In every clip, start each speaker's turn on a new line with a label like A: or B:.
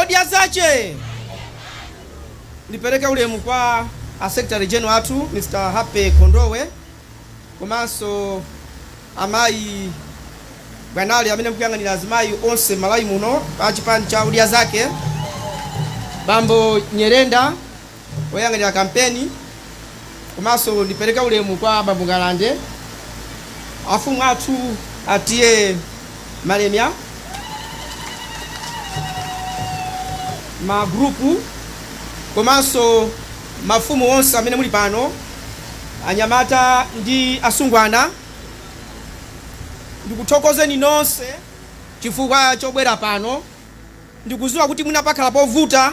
A: Odya zake! Ndipereke ulemu kwa a Secretary General athu Mr. Happy Kondowe komanso amayi Bwanali amene mukuyang'anira azimayi onse m'Malawi muno pa chipani cha Odya Zake, bambo Nyerenda, oyang'anira kampeni komanso ndipereke ulemu kwa bambo Ngalande, afumu athu a TA Malemya, magurupu komanso mafumu onse amene muli pano, anyamata ndi asungwana, ndikuthokozeni nonse chifukwa chobwera pano. Ndikudziwa kuti mwina pakhala povuta.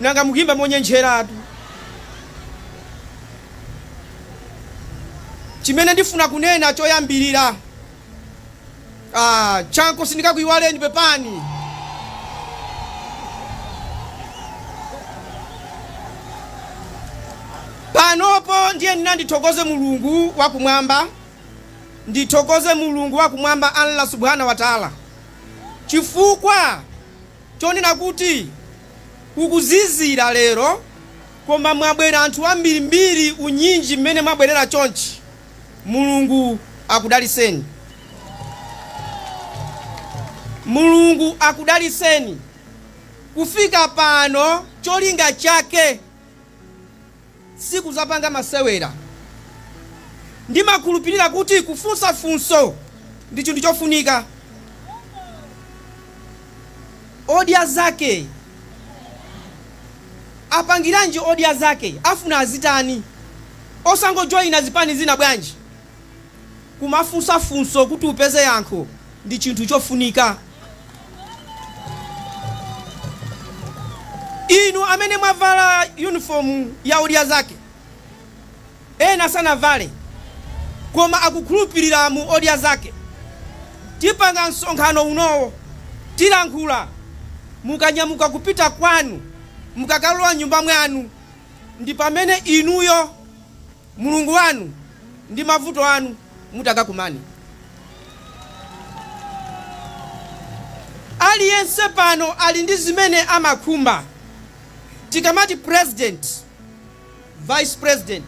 A: nanga mukuimba monyenjeratu. chimene ndifuna kunena choyambirira ah, chanko sindikakuiwaleni pepani panopo ndiye ndinandi- ndithokoze mulungu wakumwamba ndithokoze mulungu wakumwamba allah subhanahu wa taala chifukwa chonena kuti, Kukuzizira lero, koma mwabwera anthu ambirimbiri unyinji mmene mwabwerera chonchi. Mulungu akudalitseni. Mulungu akudalitseni. Kufika pano cholinga chake. Sikudzapanga masewera. Ndimakhulupirira kuti kufunsa funso ndi chinthu chofunika. Odya zake apangiranji odya zake? Afuna azitani? Osangojoina zipani zina bwanji? Kumafunsa funso kuti upeze yankho ndi chinthu chofunika. Inu amene mwavala yunifomu ya Odya Zake, ena sanavale koma akukhulupilira mu Odya Zake. Tipanga msonkhano unowo, tilankhula mukanyamuka kupita kwanu, mukakalowa nyumba mwanu, ndi pamene inuyo. Mulungu wanu ndi mavuto anu mutakakumane. Aliyense pano ali ndi zimene amakhumba. Tikamati president, vice president,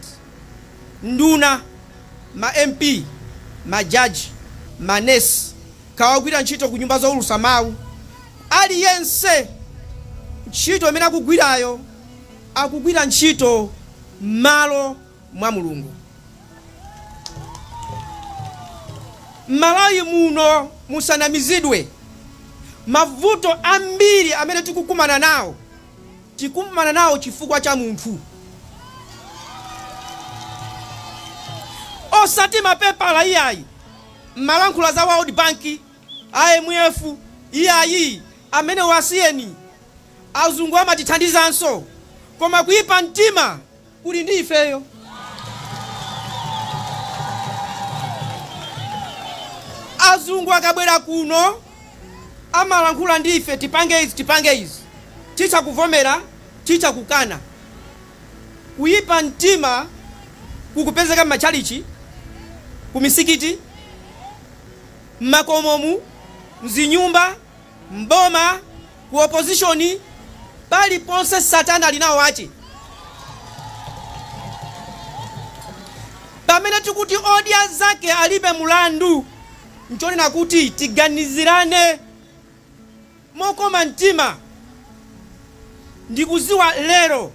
A: nduna, ma MP, ma judge, ma nurse, kaya ogwira ntchito ku nyumba zoulusa mawu, aliyense ntchito imene akugwirayo, akugwira ntchito m'malo mwa Mulungu. M'Malawi muno musanamizidwe, mavuto ambiri amene tikukumana nawo, tikumana nawo chifukwa cha munthu, osati mapepala iyayi. Mumalankhula za World Bank, IMF, iyayi, amenewo asiyeni. Azungu amatithandizanso koma kuipa mtima kuli ndi ifeyo. Azungu akabwera kuno amalankhula ndi ife tipange izi tipange izi, titha kuvomera titha kukana. Kuipa mtima kukupezeka m'matchalitchi, kumisikiti, m'makomomu, m'zinyumba. M'boma, ku opposition, paliponse satana ali nawo ache. Pamene tikuti odya zake alibe mulandu, nchonena kuti tiganizirane mokoma mtima. Ndikuziwa lero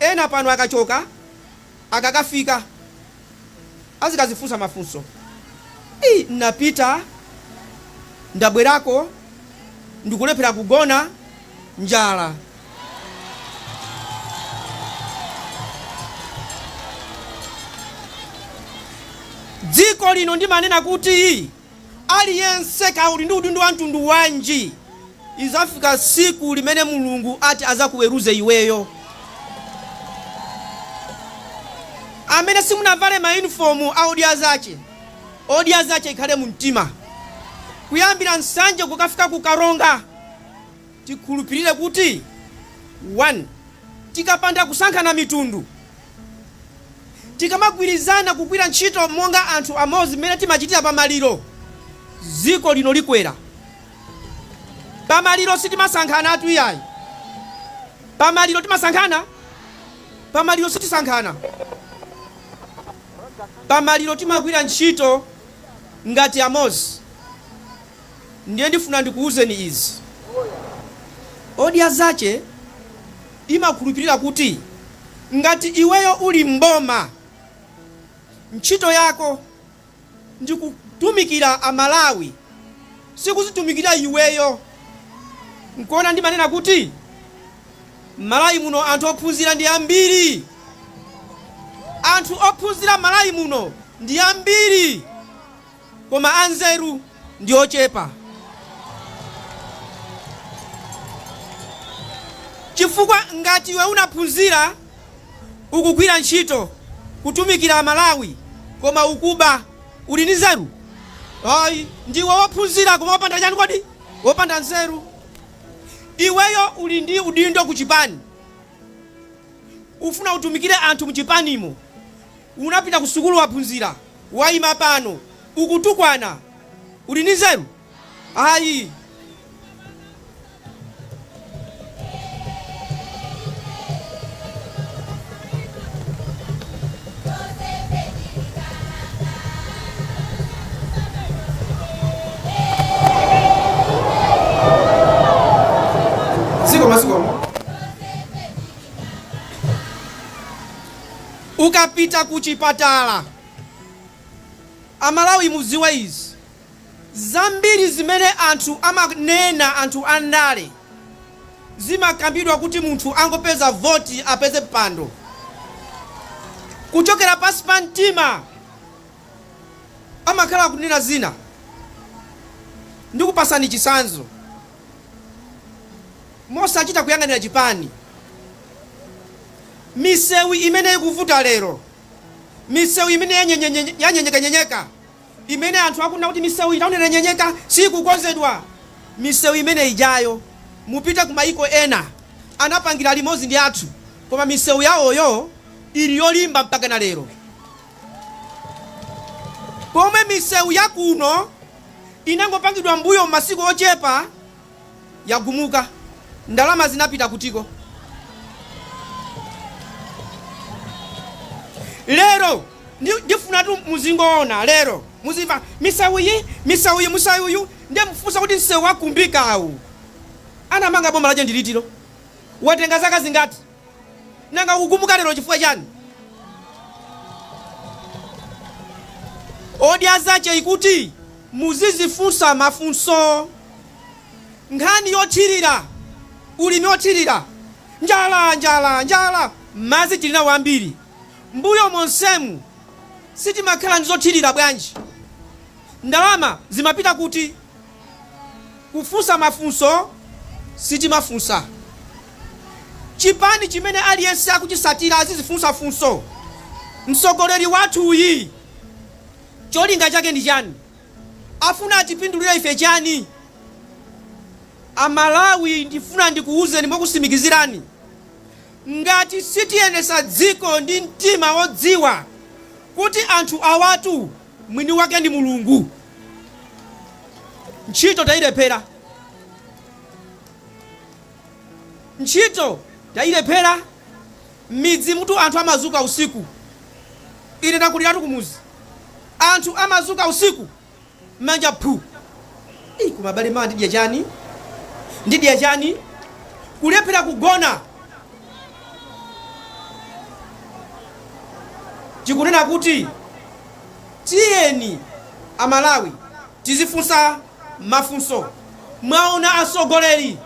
A: ena pano akachoka, akakafika azikazifunsa mafunso Ii, napita ndabwerako ndikulephera kugona njala dziko lino ndimanena kuti Aliyense, kaya uli ndi udindo wa mtundu wanji, izafika siku limene Mulungu ati azakuweruze iweyo. Amene simunavale ma uniform a Odya Zache, Odya Zache ikhale mu mtima. Kuyambira Nsanje kukafika ku Karonga. tikhulupirire kuti 1 tikapanda kusankhana mitundu, tikamagwirizana kugwira ntchito monga anthu amodzi mmene timachitira pa maliro, dziko lino likwera. Pa maliro sitimasankhanatu iyayi. Pa maliro timasankhana? Pa maliro sitisankhana. Pa maliro timagwira ntchito ngati amodzi. Ndiye ndifuna ndikuuzeni izi. Odya zache imakhulupilira kuti ngati iweyo uli m'boma, ntchito yako ndi kutumikira a Malawi, sikuzitumikira iweyo. Nkuona ndimanena kuti m'Malawi muno anthu ophunzira ndi ambiri. Anthu ophunzira m'Malawi muno ndi ambiri. koma anzeru ndi ochepa. Chifukwa ngati iwe unaphunzira, ukugwira ntchito, kutumikira a Malawi, koma ukuba, uli ndi nzeru? Ayi, ndiwe wophunzira koma wopanda chani kodi? Wopanda nzeru. Iweyo uli ndi udindo ku chipani, ufuna utumikire anthu mu chipanimo, Unapita kusukulu waphunzira waima pano ukutukwana uli ndi nzeru ayi. Ukapita kuchipatala, a Malawi mudziwe izi, zambiri zimene anthu amanena anthu a ndale zimakambidwa kuti munthu angopeza voti apeze mpando. Kuchokera pansi pa mtima amakhala akunena zina. Ndikupatsani chitsanzo. Mosachita kuyang'anira chipani, misewu imene ikuvuta lero, misewu imene yanyenyekanyenyeka, imene anthu akunena kuti misewu iyi taonera yanyenyeka siikukonzedwa, misewu imene ijayo mupite ku maiko ena anapangidwa limodzi ndi athu koma misewu yawoyo ili yolimba mpakana lero pomwe misewu yakuno inangopangidwa m'mbuyomu masiku ochepa. yagumuka ndalama zinapita kutiko? lero ndi- ndifuna tu muzingoona lero muzimva misewu iyi misewu iyi musewu uyu ndiye mufunsa kuti msewu wakumbikawu anamanga boma lake ndi litiro watenga zaka zingati Nanga ukugumuka lero chifukwa chani? Odya zake ali kuti muzizifunsa mafunso. Nkhani yothirira, ulimi othirira, njala, njala, njala, madzi tili nawo ambiri. Mbuyo monsemu sitimakhala ndi zothirira bwanji? Ndalama zimapita kuti? Kufunsa mafunso sitimafunsa. Chipani chimene aliyense akuchitsatira azizifunsa funso mtsogoleri wathuyu cholinga chake ndi chani? Afuna atipindulire ife chani? A Malawi ndifuna ndikuwuzeni mokusimikizirani ngati sitiyendetsa dziko ndi mtima wodziwa kuti anthu awatu Mwini wake ndi Mulungu. Ntchito tailephera. Ntchito tailephera. M'midzimutu anthu amazuka usiku. Ine ndakuliratu kumuzi. Anthu amazuka usiku manja phu. Ii, koma abale mawa ndidya chani? Ndidya chani? Kulephera kugona. tikunena kuti tiyeni amalawi tizifunsa mafunso mwaona atsogoleri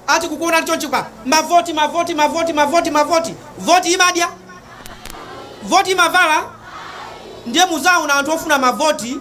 A: ati kukuona chonchi kwa mavoti mavoti mavoti mavoti mavoti voti imadya voti imavala ndiye muzaona anthu ofuna mavoti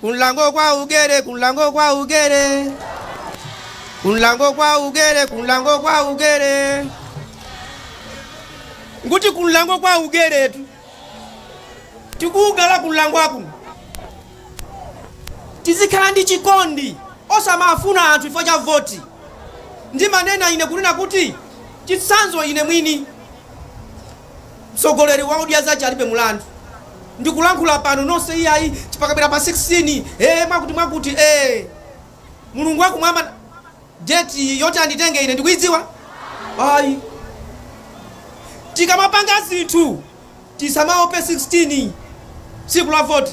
A: Kunlango kwa ugere, kunlango kwa ugere. Kunlango kwa ugere, kunlango kwa ugere. Nguti kunlango kwa ugeretu. Tikuugala kunlango akuno. Tizikhala ndi chikondi osamafuna anthu chifukwa cha voti. Ndimanena ine kunena kuti chitsanzo ine mwini Mtsogoleri wa Odya Zache alibe mulandu. Ndikulankhula pano nonse iyayi pakabwera pa 16 ee mwakuti mwakuti ee. Mulungu wakumwamba date yoti anditenge ine ndikuidziwa? Ayi. Tikamapanga zinthu tisamaope 16 tsiku la voti.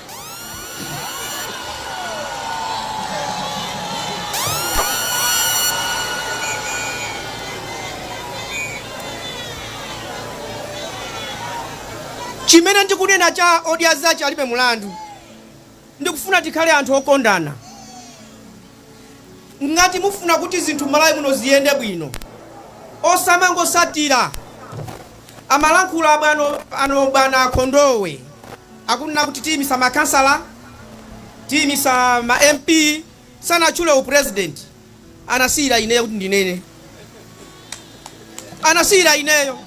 A: Chimene ndikunena cha Odya Zache alibe mulandu. Ndikufuna tikhale anthu okondana. Ngati mufuna kuti zinthu m'Malawi muno ziyende bwino, osamangotsatira amalankhula abwana bwana Kondowe akunena kuti tiyimisa makhansala, tiyimisa ma MP, sanatchule u president, anasiyira ineyo kuti ndinene, anasiyira ineyo.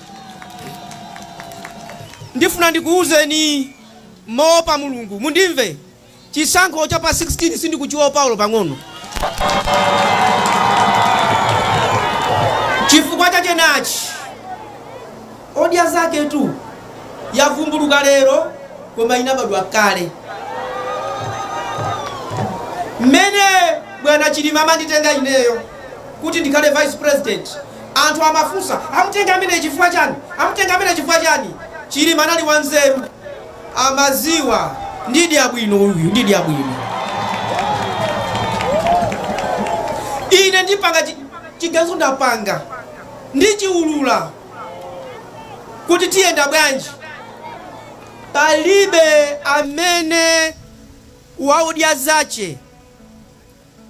A: Ndifuna ndikuwuzeni moopa Mulungu, mundimve. Chisankho cha pa 16 sindikuchiopa olo pang'ono. Chifukwa chake nachi, Odya zaketu yavumbuluka lero koma inabadwa kale. Mmene bwana Chilima amanditenga ineyo kuti ndikhale vice president, anthu amafunsa amutenga amene chifukwa chani? Chilima anali wanzeru. amaziwa ndidya bwino uyu ndidya bwino ine ndipanga chi- chiganizo ndapanga ndichiulula kuti tiyenda bwanji palibe amene wa odya zache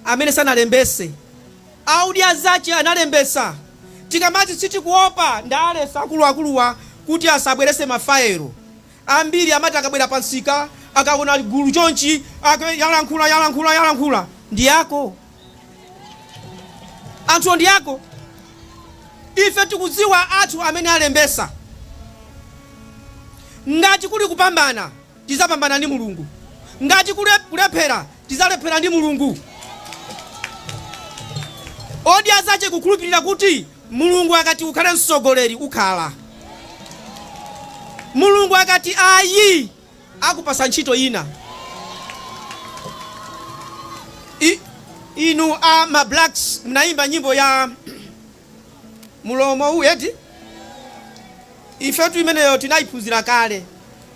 A: amene sanalembese a odya zache analembesa tikamati sitikuopa ndalesa akuluakuluwa kuti asabwelese mafayilo ambiri amati akabwera pa nsika akaona gulu chonchi ake yalankhula yalankhula yalankhula ndiyako anthuwo ndiyako ife tikudziwa anthu amene alembesa ngati kuli kupambana tizapambana ndi Mulungu. Ngati kuli kulephera, tizalephera ndi Mulungu. Odya zache kukhulupirira kuti Mulungu akati ukhale mtsogoleri ukhala. Mulungu akati ayi akupasa ntchito ina. Inu a ma blacks mnaimba nyimbo ya mulomo uwu eti ifetu imeneyo tinaiphunzira kale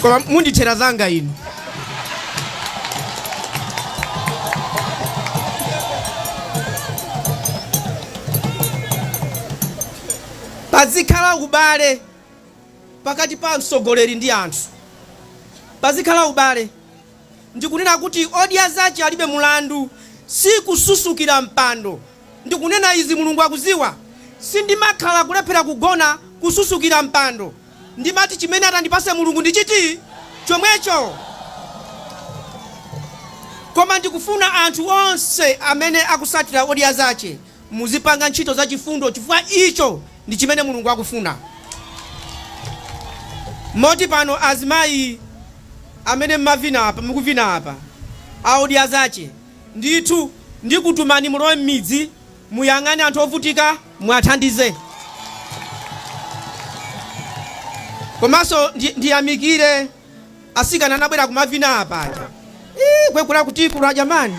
A: koma mundithera zanga inu pazikhala ubale pakati pa mtsogoleri ndi anthu pazikhala ubale ndikunena kuti odya zache alibe mulandu si kususukira mpando ndikunena izi Mulungu akuziwa sindimakhala kulephera kugona kususukira mpando ndimati chimene atandipase Mulungu ndi chiti chomwecho koma ndikufuna anthu onse amene akusatira odya zache muzipanga ntchito za chifundo chifukwa icho ndi chimene Mulungu akufuna moti pano azimayi amene mmavina apa mukuvina apa a odya zache Ndithu ndikutumani mulowe m'midzi, muyang'ane anthu ovutika, muwathandize. Komanso ndiyamikire atsikana anabwera kumavina apa aja. Iii kwekula kutikula jamani.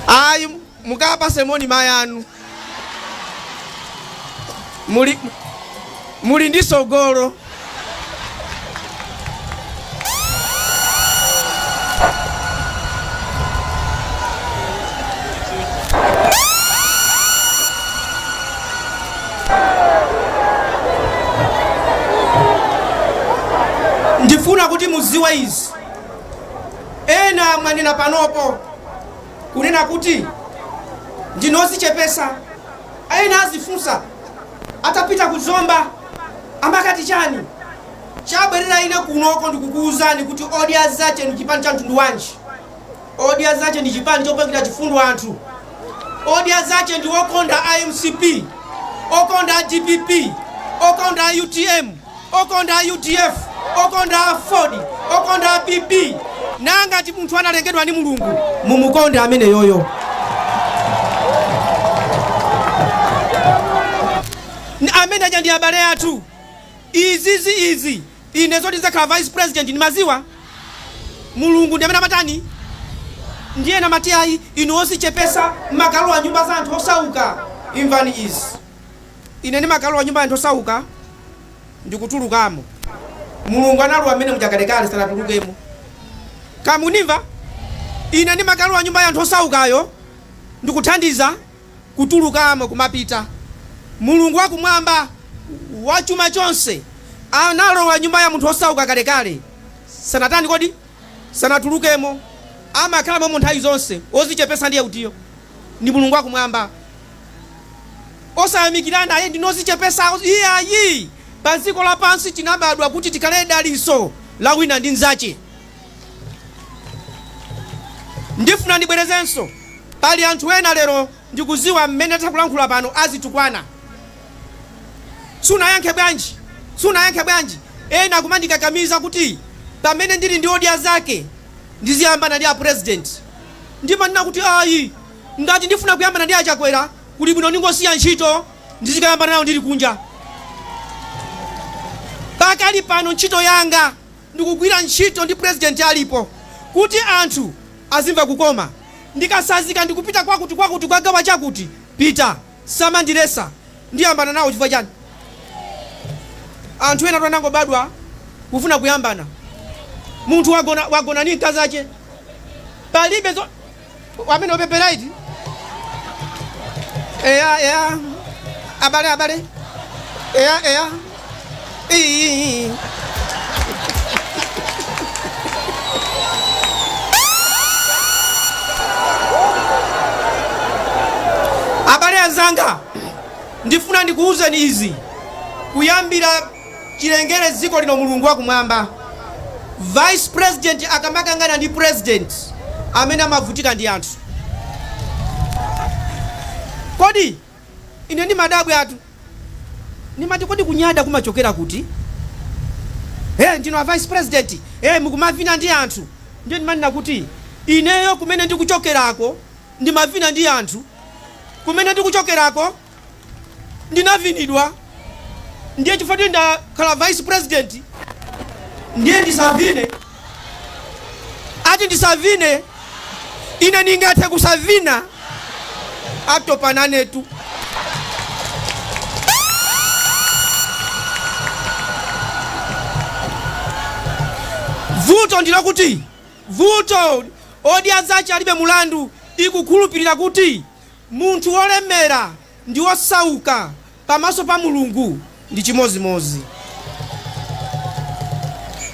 A: Ayi mukawapase moni mai anu, muli ndi sogolo ndifuna kuti muziwe izi ena mwanena panopo kunena kuti ndinu ozichepesa ayi ena azifunsa atapita ku zomba amakati chani chabwerera ine kunoko ndikukuwuzani kuti odya zache ndi chipani cha mtundu wanji odya zache ndi chipani chopangira chifundo anthu odya zache ndi okonda a mcp okonda a dpp okonda a utm okonda a udf okonda a aford okonda a pp nangati munthu analengedwa ndi mulungu mumukonde ameneyoyo N- amene aja ndi abale athu izizi izi ine zoti ndizakhala vice president ndimaziwa mulungu ndi amene amatani ndiye namati ayi inu ozichepesa mmakalowa nyumba za anthu osauka imvani izi Ine ndimakalowa nyumba ya anthu osauka ndi kutulukamo. Mulungu analowa mmene muja kalekale, sanatulukemo. Kaya mukundimva? Ine ndimakalowa nyumba ya anthu osaukayo ndi kuthandiza kutulukamo, kumapita. Mulungu wa Kumwamba, wa chuma chonse, analowa nyumba ya munthu wosauka kalekale, sanatani kodi? sanatulukemo. Amakhala mommo nthawi zonse. Wozichepesa ndiye utiyo? Ndi Mulungu wa Kumwamba. osayamikirana ayi ndinu ozichepesa iyayi paziko lapansi tinabadwa kuti tikhale daliso la wina ndi nzache ndifuna ndibwerezenso pali anthu ena lero ndikuziwa mmene takulankhula pano azitukwana sunayankhe bwanji ena kumandikakamiza kuti pamene ndili ndi odya zake ndiziyambana ndi a president ndimanena kuti ayi Ngati ndifuna kuyambana ndi a Chakwera kuli bwino ndingosiya ntchito ndizikayambana nawo ndili kunja. Pakali pano ntchito yanga ndikugwira ntchito ndi President alipo kuti anthu azimva kukoma. Ndikasazika ndikupita kwakuti kwakuti kukagawa chakuti, pita, samandilesa ndiyambana nawo chifukwa chani? Anthu enatu anangobadwa kufuna kuyambana. Munthu wagona ndi mkazache palibe zo. amene opepera iti eya eya abale abale eya eya iyi abale anzanga ndifuna ndikuwuzeni izi kuyambira chilengere dziko lino mulungu wakumwamba vice president akamakangana ndi president amene amavutika ndi anthu kodi ine ndimadabwatu ndimati kodi kunyada kumachokera kuti hey, ndinu a vice president hey, mukumavina ndi anthu ndiye ndimanena kuti ineyo kumene ndikuchokerako ndimavina ndi anthu kumene ndikuchokerako ndinavinidwa ndiye chifukwa choti ndakhala vice president ndiye ndisavine ati ndisavine ine ndingathe kusavina atopa nanetu vuto ndi lokuti vuto odya zache alibe mulandu ikukhulupirira kuti Munthu wolemera ndi wosauka pamaso pa Mulungu ndi chimodzimodzi.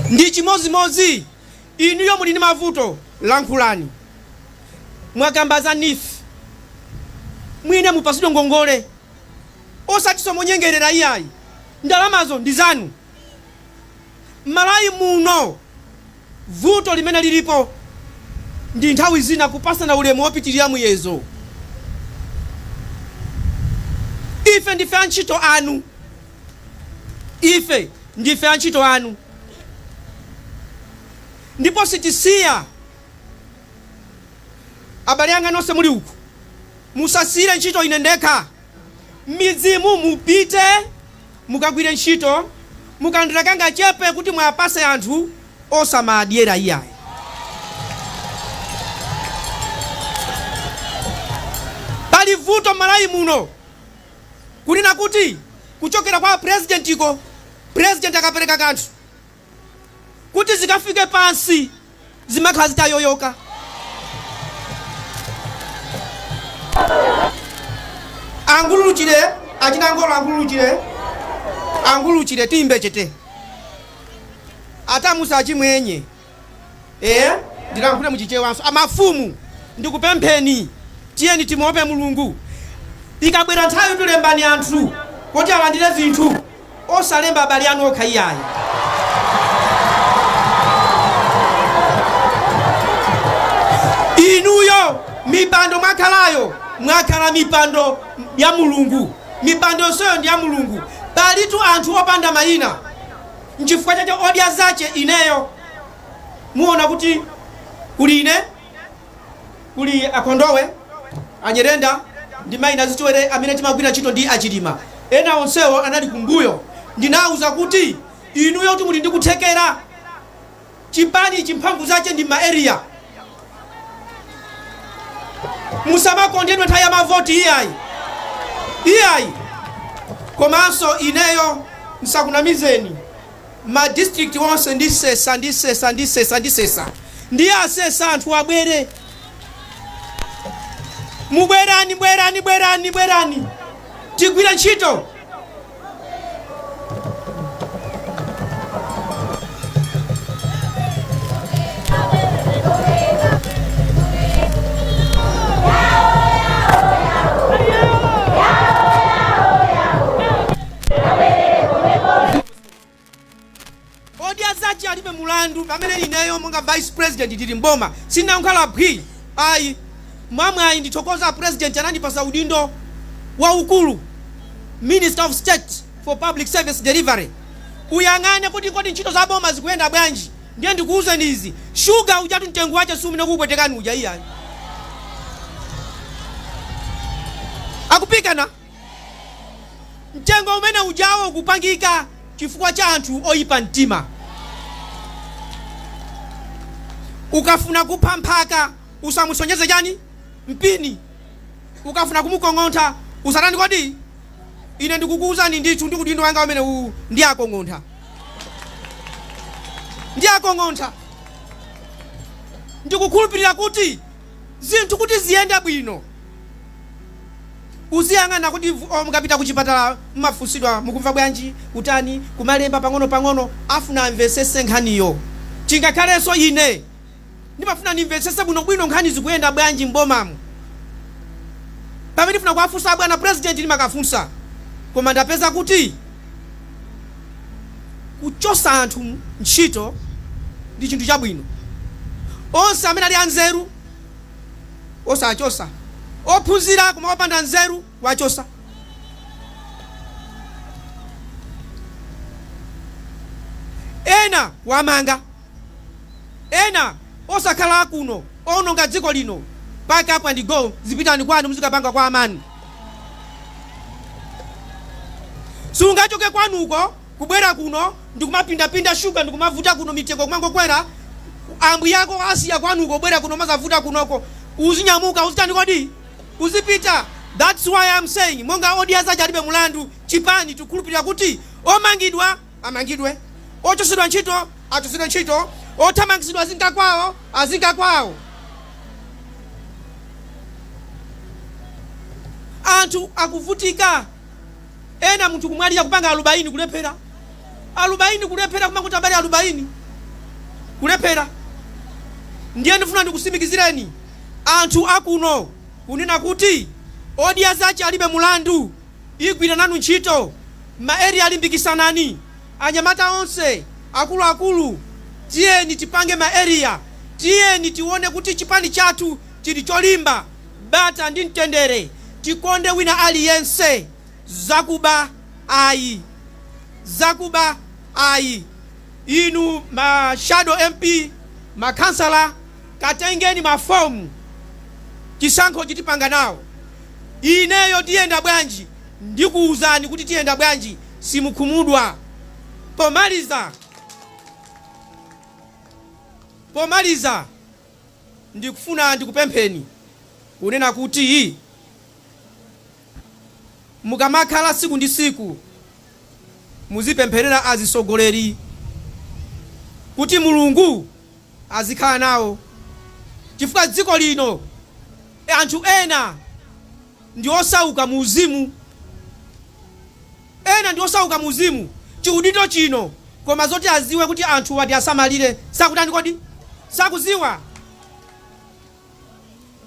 A: Ndi chimodzimodzi. Inuyo muli ndi mavuto, lankhulani. Mwakamba za Neef. Mwina mupatsidwe ngongole. Osatinso monyengerera iyayi. Ndalamazo ndi zanu. M'Malawi muno vuto limene lilipo ndi nthawi zina kupatsana ulemu wopitirira muyezo. Ife ndife antchito anu. Ife ndife antchito anu ndipo sitisiya. Abale anga nonse muli uku, musasiyire ntchito ine ndekha. Mmidzimu mupite mukagwire ntchito mukalandira kangachepe kuti muwapatse anthu osamawadyera iyayi. Pali vuto mmalawi muno kunena kuti kuchokera kwa apresidentiko president akapereka kanthu kuti zikafike pansi zimakhala zitayoyoka. Angululuchire, achina ngolo angululuchire, angululuchire timbe chete. Atamusa achimwenye. Eh, ndilankhule muchichewanso. Amafumu ndikupempheni tiyeni timuwope Mulungu. Ikabwera nthawitu lembani anthu kuti alandire zinthu. Osalemba abale anu okha iyayi. Inuyo mipando mwakhalayo, mwakhala mipando ya Mulungu. Mipando yonseyo ndi ya Mulungu. Palitu anthu opanda mayina. Nchifukwa chake odya zache ineyo. Muona kuti kuli ine? Kuli a Kondowe, a Nyirenda ndi mayi Nazitwere amene timagwira ntchito ndi a Chilima. Ena onsewo anali kumbuyo. Ndinawauza kuti inuyotu muli ndi kuthekera. Chipani ichi mphamvu zache ndi mma area. Musamakondedwe nthawi ya mavoti iyayi. Iyayi. Komanso ineyo msakunamizeni. ma district wonse ndisesa ndisesa ndisesa ndisesa ndiye asesa anthu abwere mubwerani bwerani bwerani bwerani tigwire ntchito odya zace alibe mulandu pamene ineyo monga vice president ndili mboma sinangokhala phwi ayi mwamwayi ndithokoza president anandipasa udindo waukulu minister of state for public service delivery uyang'ane kuti kodi ntchito za boma zikuyenda bwanji ndiye ndikuwuzeni izi shuga ujatu mtengo wace siumene ukupwetekani uja iyayi akupikani Mtengo umene ujawo ukupangika chifukwa cha anthu oyipa mtima. Ukafuna kupha mphaka usamusonyeze chani? Mpini. Ukafuna kumukong'ontha usatani kodi? Ine ndikukuwuzani ndithu ndi udindo wanga umene uwu ndiwakong'ontha. Ndiwakong'ontha. Ndikukhulupirira kuti zinthu kuti ziyende bwino uziyang'ana kuti vu- oh, mukapita kuchipatala mumafunsidwa mukumva bwanji kutani kumalemba pang'ono pang'ono afuna amvesese nkhaniyo chingakhalenso ine ndimafuna ndimvesese bwinobwino nkhani zikuyenda bwanji m'bomamu pamene ndifuna kuwafunsa abwana president ndimakafunsa koma ndapeza kuti Kuchotsa anthu ntchito ndi chinthu chabwino. Onse amene ali anzeru osawachotsa, ophunzira koma opanda nzeru kuwachotsa. Ena kuwamanga. Ena osakhala akuno oononga dziko lino pack up and go zipitani kwanu muzikapanga kwa amanu sungachoke kwanuko kubwera kuno ndikumapindapinda sugar ndikumavuta kuno mitengo kumangokwera ambuyako asiya kwanuko kubwera kuno mazavuta kunoko uzinyamuka uzitani kodi uzipita that's why I'm saying monga odya zache alibe mulandu chipani tikukhulupirira kuti omangidwa amangidwe, ochotsedwa ntchito achotsedwe ntchito, othamangitsidwa azinka kwawo azinka kwawo. Anthu akuvutika, ena munthu kumwalira kupanga alubaini kulephera, alubaini kulephera, kumangoti abale alubaini kulephera. Ndiye ndifuna ndikusimikizireni anthu akuno kunena kuti odya zache alibe mulandu. igwira nanu ntchito. Ma area limbikisanani anyamata onse, akuluakulu tiyeni tipange ma area, tiyeni tione kuti chipani chathu chili cholimba, bata ndi mtendere, tikonde wina aliyense, zakuba ayi, zakuba ayi. Inu ma shadow MP, ma khansala. Katengeni ma form chisankhochi tipanga nawo. Ineyo tiyenda bwanji ndikuuzani kuti tiyenda bwanji simukhumudwa. Pomaliza pomaliza ndikufuna ndikupempheni kunena kuti. Mukamakhala siku ndi siku muzipempherera azisogoleri kuti Mulungu azikhala nawo chifukwa dziko lino anthu ena ndi osauka mu uzimu, ena ndi osauka mu uzimu chiudindo chino koma zoti aziwe kuti anthuwa tiasamalire sakutani kodi? Sakuziwa.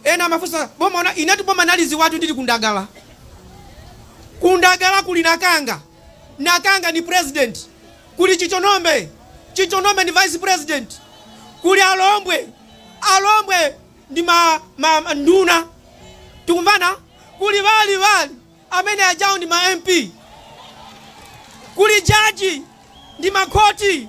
A: Ena amafunsa boma una, inetu boma naliziwatu ndili kundagala. Kundagala kuli nakanga, nakanga ni president. Kuli chitonombe, chitonombe ni vice president. Kuli alombwe, alombwe ndi ma, ma, ma nduna. Tikumvana? Kuli wali, wali amene ajawo ndi ma MP. Kuli jaji ndi makhoti.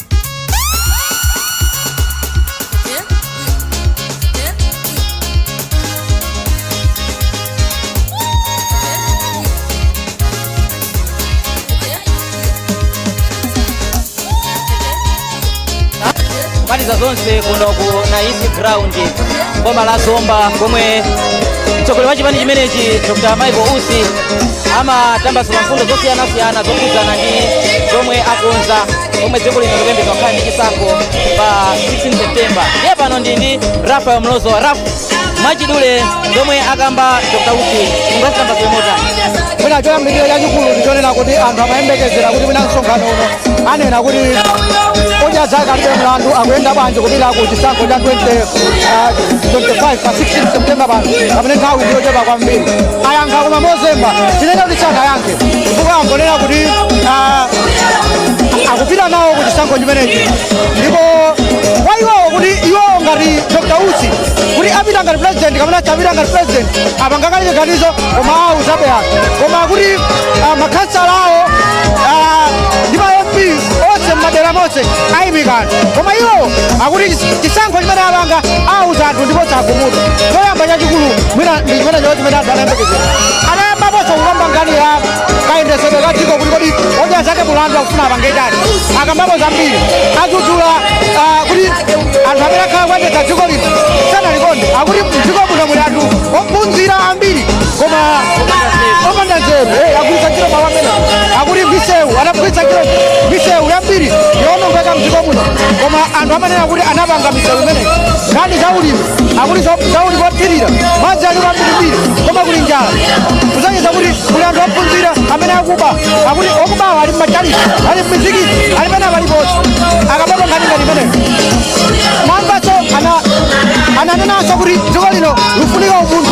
B: maliza zonse kuno ku naisi ground boma la zomba komwe mtsogoleri wa chipani chimenechi dr michael usi amatambasula mfundo zosiyanasiyana zokhudzana ndi zomwe akonza omwe dziko lino likuyembekeza kukhala ndi chisankho pa 16 septemba ndiye pano ndi ndi rafael mlozoa raf mwachidule zomwe akamba dr usi mungazikamba motani mwina choyambirira
C: chachikulu ndichonena kuti anthu amayembekezera kuti mwina msonkhano uno anena kuti odya zake alibe mlandu akuyenda bwanji kupita ku chisankho cha 20, ah, 25 pa 16 septemba pano pamene nthawi ndiyochepa kwambiri ayankha koma mozemba tinene kuti sanayankhe chifukwa angonena kuti ah, akupita nawo ku chisankho chimenechi ndipo kwa iwowo kuti iwowo ngati dr usi kuti apita ngati president kapena sapita ngati president apanga kale chiganizo koma awuzabe anthu koma kuti ah, makhansala awo ah, ndi ma mp onse mmadera monse ayimika anthu koma iwowo akuti chis- chisankho chimene apanga awuza anthu ndi posachedwa choyamba chachikulu mwina ndi chimene chao chimene anthu anayembekezera anayambaponso kukamba nkhani ya kayendetsedwe ka dziko kuti kodi odya zake mlandu akufuna apange chani akambapo zambiri adzudzula ah, kuti anthu amene akhala kuyendetsa dziko lino sanalikonde akuti mdziko muno muli anthu ophunzira ambiri koma opanda nzeru eh, agwiritsa ntchito mawu amene akuti misewu anagwiritsa ntchito misewu yambiri yoonongeka mdziko muno koma anthu amanena kuti anapanga misewu imene nkhani za ulimi akuti zaulimi wothirira madzi aliko ambirimbiri koma kuli njala kusonyeza kuti kuli anthu ophunzira amene akuba akuti okubawa ali mmatchalitchi ali mmizikiti ali pena paliponse akambapo nkhani ngati imeneyo mwamvanso ana- ananenanso kuti dziko lino likufunika umunthu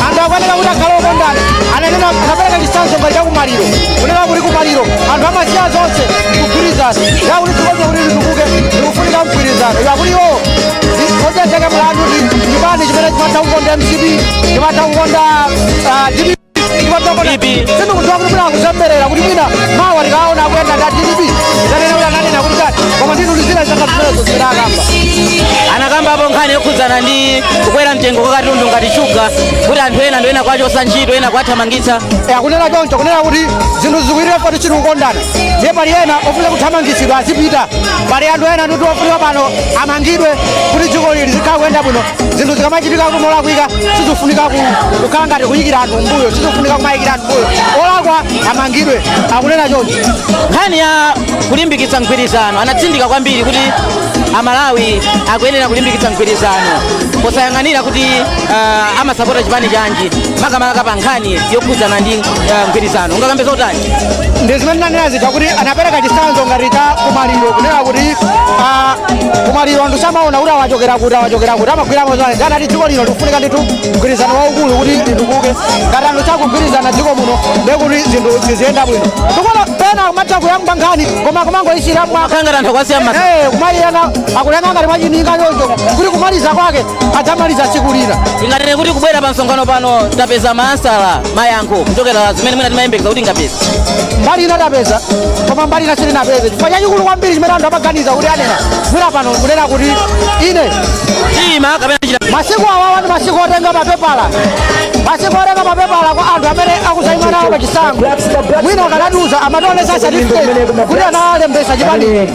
C: anthu akuyenera kuti akhale okondana ananena anapereka chitsanzo ngati chakumaliro kunena kuti kumaliro anthu amasiya zonse kugwirizana yakuti dziko lino kuti litukuke likufunika mgwirizano yakuti iwowo
B: anakambapo nkhani yokhudzana ndi kukwera mtengo kwa katundu ngati shuga kuti anthu ena ndi ena kwachosa ntchito ena kwathamangitsa akunena choncho
C: kunena kuti zinthu zikuitira poti chiri kukondana ndiye pali ena ofuna kuthamangitsidwa azipita pali anthu ena akuti ofunika pano amangidwe kuti dziko lino zikhala kuyenda bwino zinthu zikamachitika kuti molakwika sizifunika ku- kukhala ngati kuyikira anthu mbuyo sizifunika kumayikira anthu mbuyo olakwa amangidwe akunena choncho nkhani ya
B: kulimbikitsa mgwirizano anatsindika kwambiri kuti amalawi akuyenera kulimbikitsa mgwirizano posayang'anira kuti uh, amasapota chipani chanji makamaka pa nkhani yokhudzana ndi uh, mgwirizano ungakambe zotani ndi zimene
C: ndinanena zija kuti anapereka chitsanzo ngati cha kumaliro kunena kuti ah, kumaliro anthu samaona kuti awa achokera kuti awa achokera kuti amagwiramo zonse ndiye anati dziko lino likufunika ndithu mgwirizano waukulu kuti litukuke ngati anthu sakugwirizana dziko muno ndiye kuti zinthu ziziyenda bwino tikuona pena kumatha kuyamba nkhani koma kumangoyisiya mwa kangati anthu akwasiya mma
B: Eh, kumaliyana
C: akunena ngati mwachininga choncho kuti kumaliza kwake adzamaliza tsiku lina tinganene kuti kubwera
B: pa msonkhano pano tapeza maansala mayankho kuchokera zimene mwina timayembekeza kuti tingapeze mbali ina tapeza
C: koma mbali ina sitinapeze chifukwa chachikulu kwambiri chimene anthu amaganiza kuti anena mwina pano kunena kuti ine ndiyima
B: kapena chita masiku awawa
C: ndi masiku otenga mapepala masiku otenga mapepala kwa anthu amene akudzaima nawo pa chisankho mwina akanatiuza amationetsa certificate kuti analembetsa chipani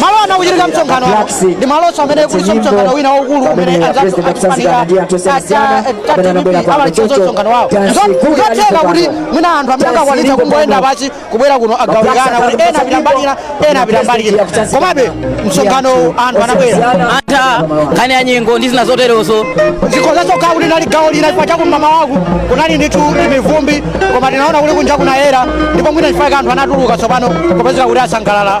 C: malo amene kukuchitika msonkhano uno ndi malonso amene kulinso msonkhano wina waukulu umene anzathu a chipani cha DPP analinso ndi msonkhano wawo zotheka kuti mwina anthu amene akanakwanitsa kungoyenda pansi kubwera kuno agawanikana kuti ena apita mbali ina ena apita mbali ina komabe msonkhanowu anthu anabwera antha
B: nkhani ya nyengo ndi zina zoterozo zikhozanso
C: kukhala kuti linali gawo lina chifukwa chakuti m'mamawaku kunali ndithu mivumbi koma tinaona kuti kunja kunayera ndipo mwina chifukwa anthu anatuluka tsopano kupezeka kuti asangalala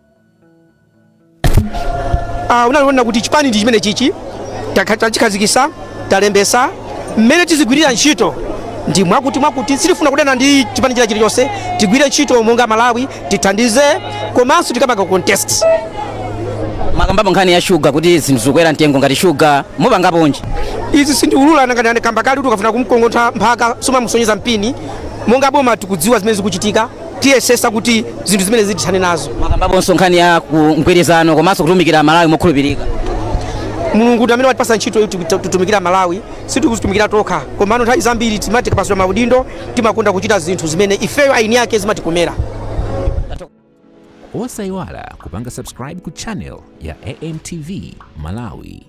D: Ah, unaonanso kuti chipani ndi chimene chichi takha- tachikhazikitsa talembetsa mmene tizigwirira ntchito ndi mwakuti mwakuti sitifuna kudana ndi chipani china chilichonse tigwire ntchito monga amalawi tithandize komanso tikapanga
B: contest anakambapo nkhani ya shuga kuti zinthu zikukwera mtengo ngati shuga mupangapo chiyani izi sindiulula
D: anangokamba kale kuti ukafuna kumgogoda mphaka sumamusonyeza mpini monga boma tikudziwa zimene zikuchitika tiyesetsa kuti zinthu zimenezi tithane nazo anakambaponso nkhani
B: ya ku mgwirizano komanso kutumikira malawi mokhulupirika mulungu
D: ndi amene watipatsa ntchito yoti titu- titumikire malawi sitikudzitumikira tokha komano nthawi zambiri timati tikapatsidwa maudindo timakonda kuchita zinthu zimene ifeyo eni ake
E: zimatikomera osayiwala kupanga subscribe ku channel ya amtv malawi